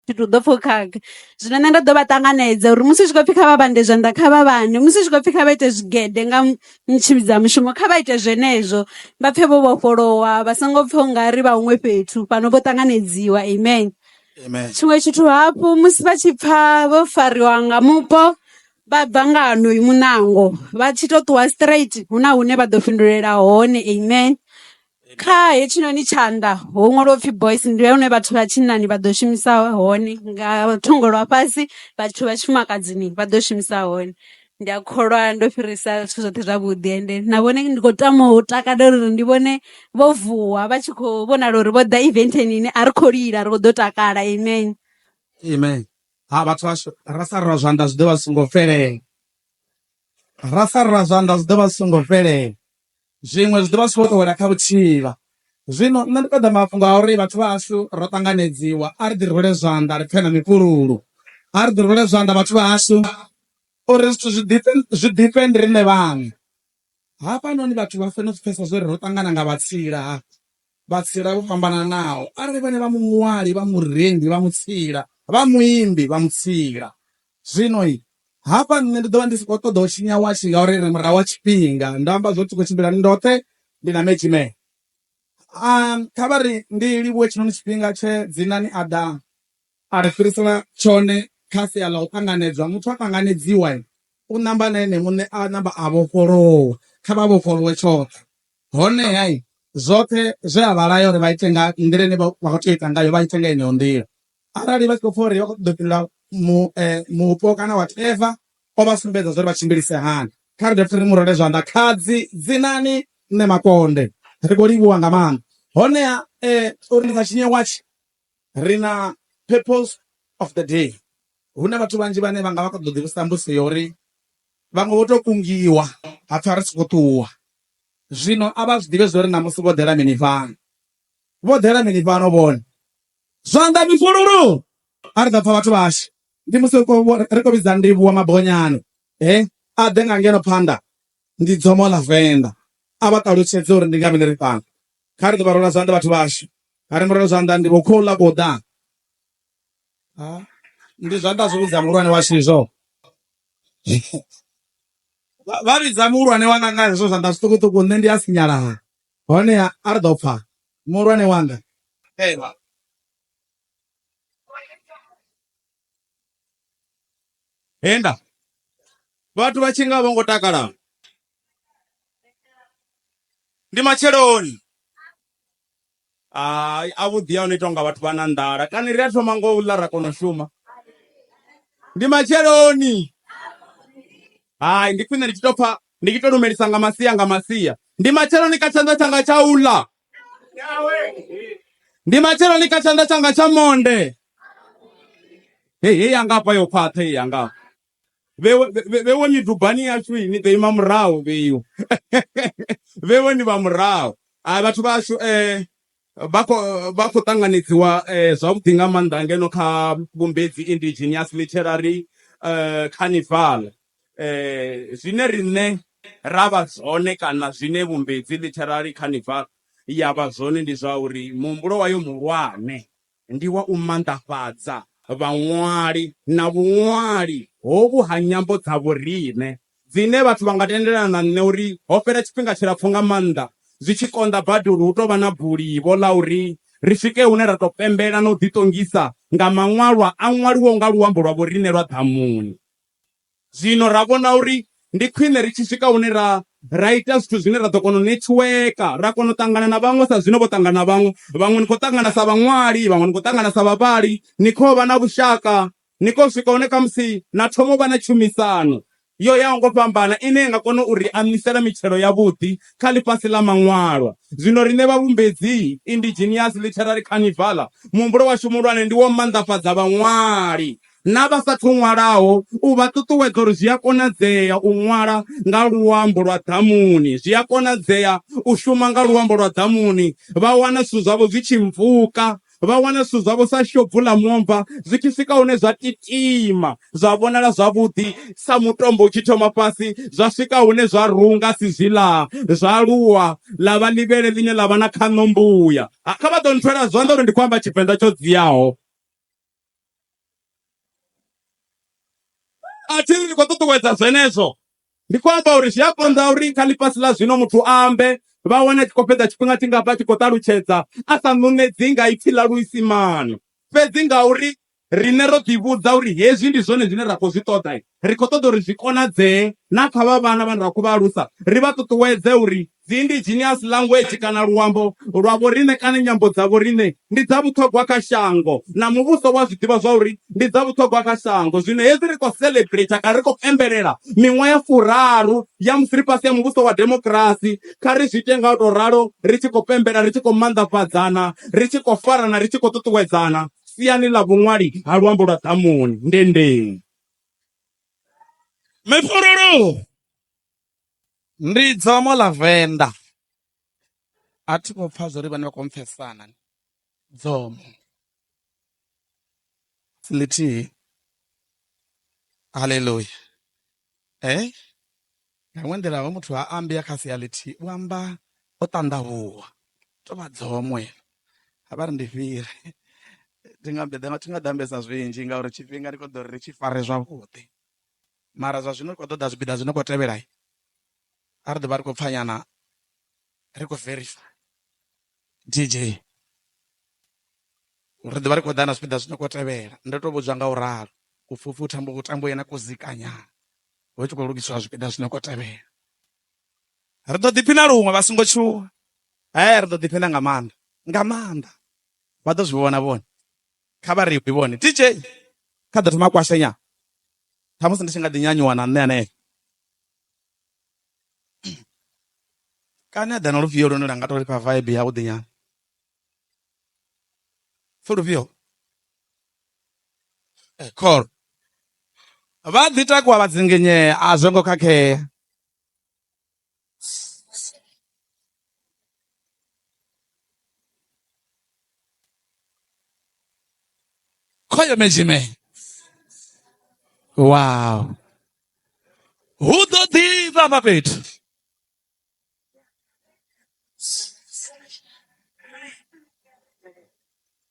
Thi thu ḓo pfhukhaga zwino nṋe nda ḓo vha ṱanganedza uri musi zwi khou pfhi kha vha vhande zwanḓa kha vha vhande musi zwi khou pfhi kha vha ite zwigede nga tshivhidza mushumo kha vha ite zwenezwo vha pfhe vho vhofholowa vha songo pfha ungari vha huṅwe fhethu fhano vho ṱanganedziwa amen. Amen tshiṅwe tshithu hafhu musi vha tshi pfha vho fariwa nga mupo vha bva nga honoyu muṋango vha tshi to ṱuwa straight hu na hune vha ḓo fhindulela hone amen. Kha hetshinoni tshanḓa ho ṅwaliwa upfhi boys ndi hone vhathu vha tshinnani vha ḓo shumisa hone nga thungo lwa fhasi vhathu vha tshifumakadzini vha ḓo shumisa hone ndi a kholwa ndo fhirisa zwithu zwoṱhe zwavhuḓi ende na vhone ndi kho tama u takalela uri ndi vhone vho vuwa vha tshi kho vhonala uri vho ḓa event ni a ri kho lila ri kho ḓo takala amen amen ha vhathu vhashu ra sa rwa zwanḓa zwi ḓo vha songo fhelela ra sa rwa zwanḓa zwi ḓo vha songo fhelela Zwiṅwe zwi ḓo vha zwi tshi khou tou wela kha vhutshivha. Zwino nṋe ndi ṱoḓa mafhungo a uri vhathu vha hashu ro ṱanganedziwa, a ri ḓi rwele zwanḓa ri pfe na mifhululu. A ri ḓi rwele zwanḓa vhathu vha hashu uri zwithu zwi ḓifhe, zwi ḓifhe ndi riṋe vhaṋe. Hafhanoni vhathu vha fanela u zwi pfesesa zwa uri ro ṱangana nga vhatsila. Vhatsila vho fhambananaho, arali vhone vha muṅwali, vha murendi, vha mutsila, vha muimbi, vha mutsila. Zwino, hafha nṋe ndi ḓo vha ndi si khou ṱoḓa u tshinya watshi, ngauri ri murahu ha tshifhinga. Ndo amba zwo ri khou tshimbila ndi ndoṱhe, ndi na Medzhimee. A, kha vha ri ndi livhuwe tshiṋoni tshifhinga tshe Dzinani a ḓa a ri fhirisela tshone kha sia ḽa u ṱanganedzwa. Muthu a ṱanganedziwa, u ṋamba na ene muṋe, a ṋamba a vhofholowa. Kha vha vhofholowe tshoṱhe. Honeha zwoṱhe zwe a vha laya uri vha ite nga nḓila ine vha khou tea u ita ngayo vha ite nga yeneyo nḓila. Arali vha tshi khou pfa uri vha khou ṱoḓa u fhindula mupo kana whatever, o vha sumbedza zwa uri vha tshimbilise hani. Kha ri dovhe futhi ri mu rwele zwanḓa. Khadzi, Dzinani Mme Makonde. Ri khou livhuwa nga maanḓa. Honeha uri ndi sa tshinye watshi. Ri na Purpose of the Day. Hu na vhathu vhanzhi vhane vha nga vha kha ḓo ḓivhudzisa mbudziso ya uri vhaṅwe vho tou kungiwa ha pfhi a ri sokou ṱuwa. Zwino a vha zwi ḓivhe zwo ri ṋamusi vho ḓela mini fhano. Vho ḓela mini fhano vhone? Zwanḓa mifhululu! A ri ḓo pfa vhathu vhashu. Ndi musi ri khou ri khou vhidza Ndivhuwa Mabonyani he a ḓe nga ngeno phanḓa. Ndi dzomo ḽa Venḓa. A vha ṱalutshedze uri ndi nga mini ri fhano. Kha ri ḓo vha rwela zwanḓa vhathu vhashu. Are murero zwanḓa ndi vho khou ḽa kho ḓa. Ndi zwanḓa zwi vhidza muhulwane wa shizwo. Vha vhidza muhulwane wanga nga hezwo zwanḓa zwiṱukuṱuku nṋe ndi a sinyala. Hone a ri ḓo pfa muhulwane wanga. Ewa. Henda. Vhathu vha tshi nga vho ngo takala. Ndi matsheloni. Hai a vhuḓi a no itwa nga vhathu vha na nḓala kana ri a thoma ngo u ḽa ra kona u shuma ndi matsheloni hai ndi khwine ndi tshi to pfha ndi tshi to lumelisa nga masia nga masia ndi matsheloni kha tshanḓa tshanga tsha u ḽa ndi matsheloni kha tshanḓa tshanga tsha monde hei hei yanga hafha yo khwaṱha hei yanga Vhewe, vhe- vhewe midubani yashu ni ḓo ima murahu vheyu vhewe ni vha murahu a vhathu vhashu eh, vha khou vha khou ṱanganedziwa eh, zwavhuḓi nga maanḓa ngeno kha vhumbedzi indigenous literary eh, carnival eh, zwine riṋe ra vha zwone kana zwine vhumbedzi literary carnival ya vha zwone ndi zwa uri muhumbulo wayo muhulwane Ndi wa u manḓafhadza vhaṅwali na vhuṅwali hovhu ha nyambo dza vhoriṋe, dzine vhathu vha nga tendelana na nṋe uri ho fhela tshifhinga tshilapfu nga maanḓa zwi tshi konḓa badi uri hu tou vha na bulivho ḽa uri ri swike hune ra tou pembela na u ḓiṱongisa nga maṅwalwa a ṅwaliwaho nga luambo lwa vhoriṋe lwa ḓamuni. Zwino ra vhona uri ndi khwine ri tshi swika hune ra, ra ita zwithu zwine ra ḓo kona u netshiweka, ra kona u ṱangana na vhaṅwe sa zwine vho ṱangana na vhaṅwe. Vhaṅwe ni khou ṱangana sa vhaṅwali, vhaṅwe ni khou ṱangana sa vhavhali, ni khou vha na vhushaka, ni khou swika hune khamusi na thoma u vha na tshumisano yo yaho nga u fhambana ine ya nga kona u ri aṋwisela mitshelo yavhuḓi kha ḽifhasi ḽa maṅwalwa. Zwino riṋe vhavhumbedzi, Indigenous Literary Carnival, muhumbulo washu muhulwane ndi wa u manḓafhadza vhaṅwali na vha sa athu ṅwalaho u vha ṱuṱuwedza uri zwi a konadzea u ṅwala nga luambo lwa ḓamuni, zwi a konadzea u shuma nga luambo lwa ḓamuni, vha wana zwithu zwavho zwi tshi mpfuka, vha wana zwithu zwavho sa shobvu ḽa muomva zwi tshi swika hune zwa titima zwa vhonala zwavhuḓi sa mutombo u tshi thoma fhasi zwa swika hune zwa runga asi zwiḽa zwa aluwa ḽa vha ḽivhele ḽine ḽa vha na khaṋo mbuya. Kha vha ḓo nthwela zwanḓa uri ndi khou amba Tshivenḓa tsho dziaho. a thi ri ndi khou ṱuṱuwedza zwenezwo ndi khou amba uri zwi a konḓa uri kha ḽifhasi ḽa zwino muthu a ambe vha wane a tshi khou fhedza tshifhinga tshingafha tshi khou ṱalutshedza a sa ṋuṋedzi nga ipfi ḽa luisimane fhedzi ngauri riṋe ro ḓivhudza uri hezwi ndi zwone zwine ra khou zwi ṱoḓa ri khou ṱoḓa uri zwi konadzee na kha vha vhana vhane ra khou vha alusa ri vha ṱuṱuwedze uri Dzi indigenous language kana luambo lwa vhoriṋe kana nyambo dza vhoriṋe ndi dza vhuṱhogwa kha shango na muvhuso wa zwi ḓivha zwa uri ndi dza vhuṱhogwa kha shango. Zwino hezwi ri khou celebrater kana ri khou pembelela miṅwaha ya furaru ya musi ri fhasi ha muvhuso wa demokirasi, kha ri zwi ite nga u tou ralo ri tshi khou pembela, ri tshi khou manḓafhadzana, ri tshi khou farana, ri tshi khou ṱuṱuwedzana siani ḽa vhuṅwali ha luambo lwa ḓamuni. Ndendeng. Mefhololo. Ndi dzomo ḽa venḓa a thi khou pfha zwori vhane vha khou mpfesana dzomo ḽithihi haleluya eh nga iṅwe nḓila hoyu muthu ha ambi a kha sia ḽithihi u amba o ṱanḓavhuwa tou vha dzomo heḽo a vha ri ndi fhire thi nga ḓo ambesa zwinzhi ngauri tshifhinga ndi kho ḓo ri tshi fare zwavhuḓi. Mara zwa zwino ri khou ṱoḓa zwipiḓa zwi no khou tevhela, a ri ḓo vha ri khou pfa nyana ri khou verifaya DJ ri ḓo vha ri khou ḓa na zwipiḓa zwi no khou tevhela, ndo tou vhudzwa nga u ralo upfhi upfhi hu tambo hu tambo yena kuzika nyana hu tshi khou lugisiwa zwipiḓa zwi no khou tevhela. Ri ḓo ḓiphina luṅwe vha songo tshuwa, he ri ḓo ḓiphina nga maanḓa nga maanḓa vha ḓo zwi vhona vhone. kha vha ri vhone DJ kha ḓo thoma kwashenya ṱhamusi ndi tshi nga ḓi nyanyuwa na nṋe hanefho kana a ḓa na lufhio lune lwa nga tou lifha vibe ya vhuḓi nyana fo lufhio eh, call vha ḓi takuwa vha dzinginyea a zwo ngo khakhea khoyo medzime wow hu ḓo ḓivha vha fhethu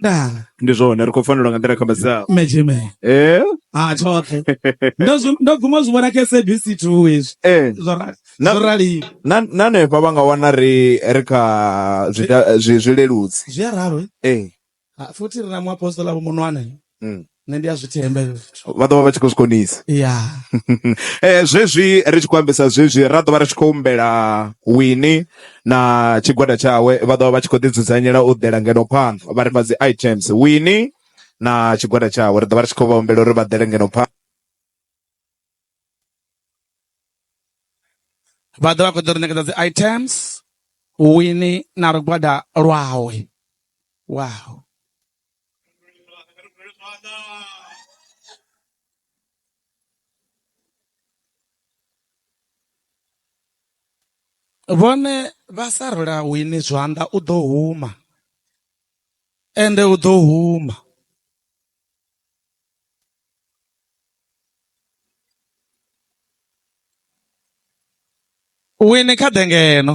dala ndi zwone ri khou fanelwa nga nḓila kha masaho mejeme eh ha tshoṱhe ndo zwi- ndo guma zwi vhona kha sabc two hezwi eh zwo ra- Na- zwo raliwa na na hanefha vha nga wana ri ri kha zwida- zwi- zwileludzi zwi a ralo eh eh Ha, futhi ri na muapostola vho munwana mm. Nṋe ndi a zwi themba hezwo zwithu. Vha ḓovha vha tshi khou zwi konisa. Ya. Zwezwi ri tshi khou ambisa zwezwi ra ḓovha ri tshi khou humbela Winnie na tshigwada tshawe vha ḓovha vha tshi khou ḓi dzudzanyela u ḓela ngeno phanḓa vha ri fha dzi items Winnie na tshigwada tshawe ri ḓovha ri tshi khou vha humbela uri vha ḓele ngeno phanḓa. vha ḓo vha khou ḓo ri ṋekedza dzi items wini na lugwada lwawe wow vhone vha sa rula wini zwanḓa u ḓo huma ende u ḓo huma Wine kha ḓe ngeno.